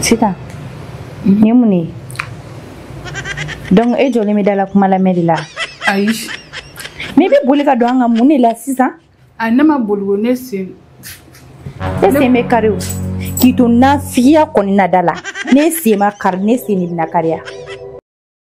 Sita, nin ye mun de ye? Donc e jɔlen bɛ da la kuma lamɛn de la? Ayi. Mais i bɛ boli ka don an kan mun de la sisan? A ne ma boli ko ne sen. E sen bɛ kari o. K'i to nafigiya kɔni na da la. Ne sen ma kari, ne sen de bɛna kari ya.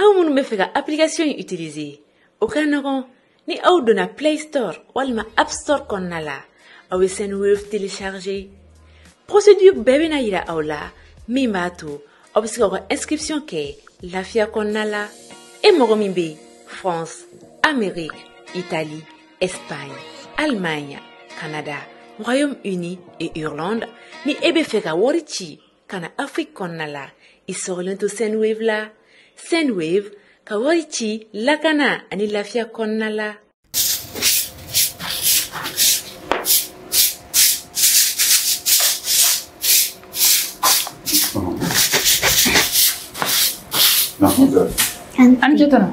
Aw minnu bɛ fɛ ka application in utiliser o ka nɔgɔn ni aw donna Play Store walima App Store kɔnɔna la, aw bɛ Sendwave télécharger. Procédure bɛɛ bɛna jira aw la min b'a to aw bɛ se ka aw ka inscription kɛ lafiya kɔnɔna la. E mɔgɔ min bɛ France, Amérique, Italie, Espagne, Allemagne, Canada, Royaume-Uni et Irlande ni e bɛ fɛ ka wari ci ka na afiriki kɔnɔna la i sɔgɔlen to sendwave la sendwave ka wari ci lakana ani lafiya kɔnɔna la an ce tɔnɔ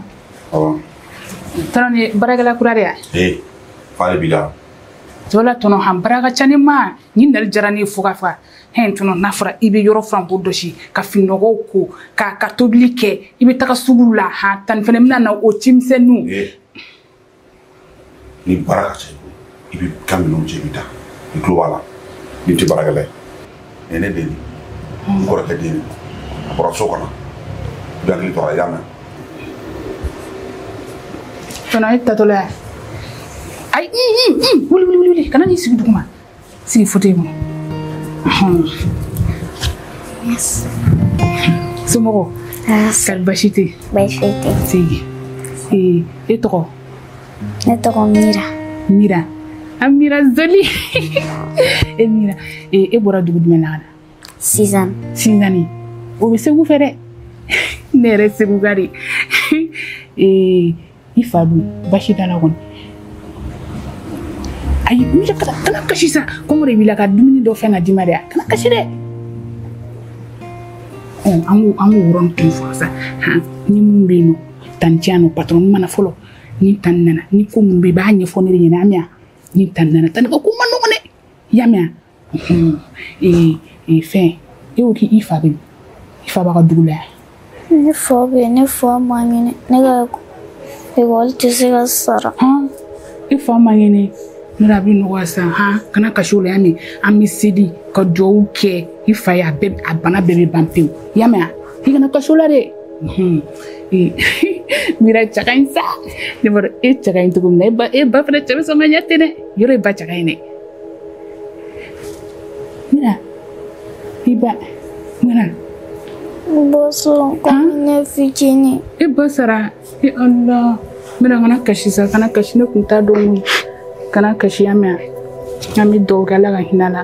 tɔnɔ nin baarakɛla kura de ya ee fa de b'i la wala tɔnɔ han baara ka ca ni ma ni nali jara ni fo ka fa hɛn tɔnɔ n'a fɔra i bɛ yɔrɔ furan k'o jɔsi ka fini nɔgɔw ko ka ka tobili kɛ i bɛ taga sugu la ha tani fana bɛna na o cimisɛnninw ni baara ka ca i bɛ ka minɛnw cɛ i bɛ taa i tulo b'a la nin tɛ baarakɛla ye nin ne den n kɔrɔkɛ den a bɔra so kɔnɔ i bɛ hakili to a la i y'a mɛn tɔnɔ e taatɔla yan ayi wuli wuli wuli kana n'i sigi duguma Sigi fauteuil kɔnɔ. Yes. Somɔgɔw. Kɔri basi tɛ yen. Basi tɛ. Sigi. Ee e tɔgɔ. Ne tɔgɔ Mira. Mira. An Mira Zoli. e Mira e bɔra dugu jumɛn na ka na. Sizani. Sizani. O bɛ Segu fɛ dɛ. Ne yɛrɛ Seguka de. Ee. i fa dun basi t'a la kɔni ayi mira kana kana kasi sa kɔngɔ de b'i la ka dumuni dɔ fana d'i ma dɛ kana kasi dɛ ɔ an k'o an k'o yɔrɔ nin kun fɔ sa han ni mun bɛ yen nɔ tanti ani patɔrɔn ma na fɔlɔ ni tan nana ni ko mun bɛ yen i b'a ɲɛfɔ ne de ɲɛna a mɛn yan ni tan nana tan ka ko man nɔgɔn dɛ i y'a mɛn yan fɛn e ko k'i fa bɛ min i fa b'a ka dugu la yan ne fa bɛ yen ne fa man kɛnɛ ne ka ekɔli tɛ se ka sara i fa man kɛnɛ mira a bɛ nɔgɔya sisan han kana kasi o la y'a mɛn an bɛ seli ka dugawu kɛ i fa ye a bɛɛ a bana bɛɛ bɛ ban pewu y'a mɛn i kana kasi o la dɛ mira cɛ ka ɲi sa ne b'a dɔn e cɛ ka ɲi cogo min na e ba e ba fana cɛ bɛ sɔn ka ɲɛ ten dɛ yɔrɔ e ba cɛ ka ɲi dɛ Mira, i ba, mira. Ba sara ne fitinin. I ba sara, e Allah. Mira, kana kasi sa, kana kasi ne kun t'a dɔn kana kasi y'a mɛn. An bɛ dugawu kɛ Ala ka hinɛ a la.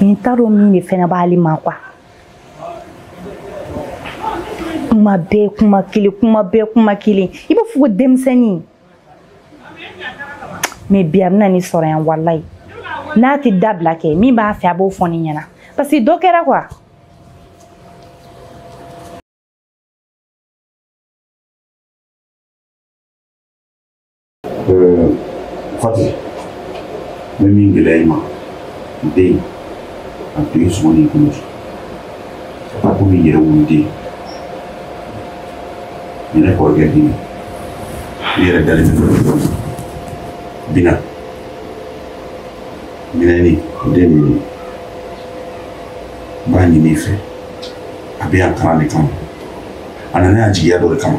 n t'a dɔn mun de fɛnɛ b'ale ma quoi kuma bɛɛ kuma kelen kuma bɛɛ kuma kelen i b'a fɔ ko denmisɛnnin mais bi a bɛna ne sɔrɔ yan walayi n'a tɛ dabila kɛ min b'a fɛ a b'o fɔ ne ɲɛna parce que dɔ kɛra quoi Euh, Fati, ne min gɛlɛya i ma n den a to i sɔn n'i kɔnɔ k'a ta komi i yɛrɛ wolo den ni ne kɔrɔkɛ den ne yɛrɛ dalen bɛ min na minɛni den min ye n b'a ɲini i fɛ a bɛ yan kalan de kama a nana yan jigiya dɔ de kama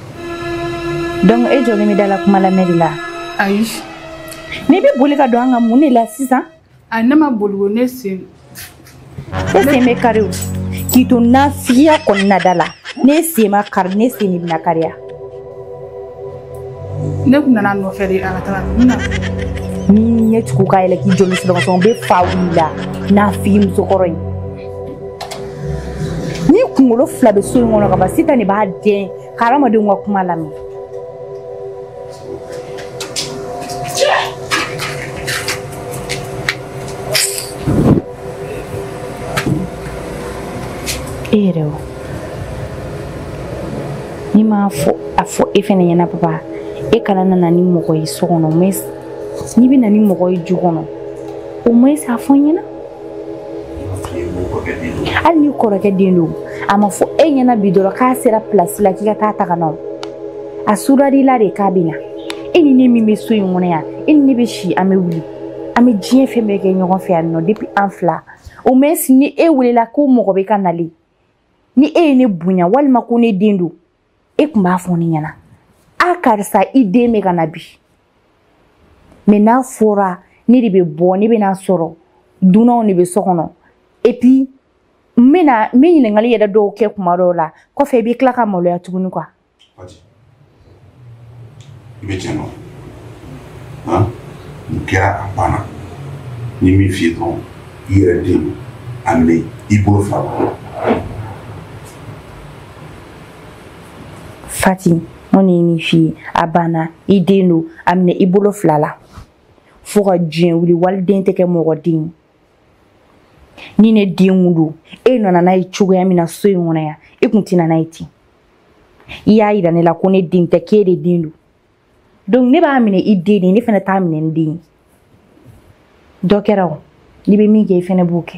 donc e jɔlen bɛ da la kuma lamɛn de la ayi mais i bɛ boli ka don an ka mun de la sisan a ne ma boli ko ne sen e sen bɛ kari o k'i to nafigiya kɔnɔna da la ne sen ma kari ne sen de bɛna kariya ne tun nana nɔfɛ de a ka taga n na ni ɲɛ tugu k'a yɛlɛ k'i joli sɔgɔsɔgɔ n bɛ fa wuli la nafigi musokɔrɔ in ni kunkolo fila bɛ so in kɔnɔ ka ban sitan de b'a dɛn ka hadamadenw ka kuma lamɛn e yɛrɛ o ni m'a fɔ a fɔ e fɛnɛ ɲɛna papa e kana nana ni mɔgɔ ye so kɔnɔ mais n'i bɛ na ni mɔgɔ ye du kɔnɔ au moins a fɔ n ɲɛna hali n'i kɔrɔkɛ den don a ma fɔ e ɲɛna bi dɔrɔn k'a sera pilasi la k'i ka taa a ta ka na o a sudari la de k'a bɛ na e ni ne min bɛ so in kɔnɔ yan e ni ne bɛ si an bɛ wuli an bɛ diɲɛ fɛn bɛɛ kɛ ɲɔgɔn fɛ yan nɔ depuis an fila au moins ni e welela ko mɔgɔ bɛ ka nalen ni e ye ne bonya walima ko ne den don e tun b'a fɔ ne ɲɛna a karisa i den bɛ ka na bi mais n'a fɔra ne de bɛ bɔ ne bɛ n'a sɔrɔ dunanw de bɛ so kɔnɔ et puis n bɛna n bɛ ɲininkali yɛrɛ dɔw kɛ kuma dɔw la kɔfɛ i bɛ tila ka maloya tuguni quoi. i bɛ tiɲɛ dɔn han nin kɛra a banna n ye min f'i ye dɔrɔn i yɛrɛ den don a minɛ i bolo fila la. fati mun ne ye min f'i ye a banna i den don a minɛ i bolo fila la fo ka diɲɛ wuli waliden tɛ kɛ mɔgɔ den ni ne den don e nana n'a ye cogoya min na so in kɔnɔ yan e kun tɛ na n'a ye ten i y'a yira ne la ko ne den tɛ k'e de den don donc ne b'a minɛ i den de ne fana t'a minɛ n den dɔ kɛra o ne bɛ min kɛ i fana b'o kɛ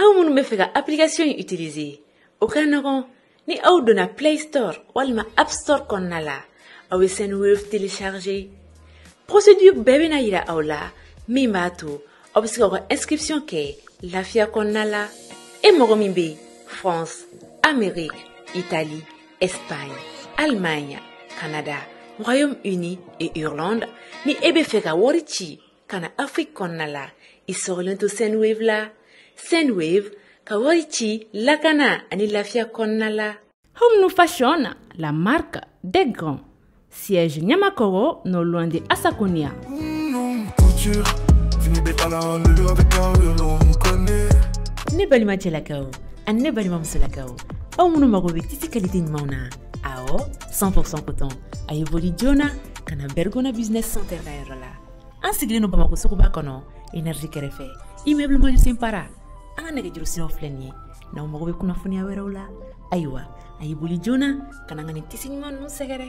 aw minnu bɛ fɛ ka application in utiliser o ka nɔgɔn ni aw donna play store walima app store kɔnɔna la aw bɛ sendwave télécharger procédure bɛɛ bɛna yira aw la min b'a to aw bɛ se ka aw ka inscription kɛ lafiya kɔnɔna la e mɔgɔ min bɛ france amérique italie espagne allemagne canada royaume uni et irlande ni e bɛ fɛ ka wari ci ka na afrique kɔnɔna la i sɔgɔlen to sendwave la sendwave ka wari ci lakana ani lafiya kɔnɔna la homnu fashion la marque des grands siège ɲamakɔrɔ non loin de asaconia ne balima cɛlakaw ani ne balima musolakaw aw minnu mago bɛ tisi kalite ɲumanw na awɔ 100% coton a ye boli joona ka na bergona business center ka yɔrɔ la an sigilen don bamakɔ suguba kɔnɔ énergie kɛrɛfɛ immeuble majusen para an ka nɛgɛjuru siraw filɛ nin ye n'aw mago bɛ kunnafoniya wɛrɛw la ayiwa a y'i boli joona ka na ka nin tisi ɲuman ninnu sɛgɛrɛ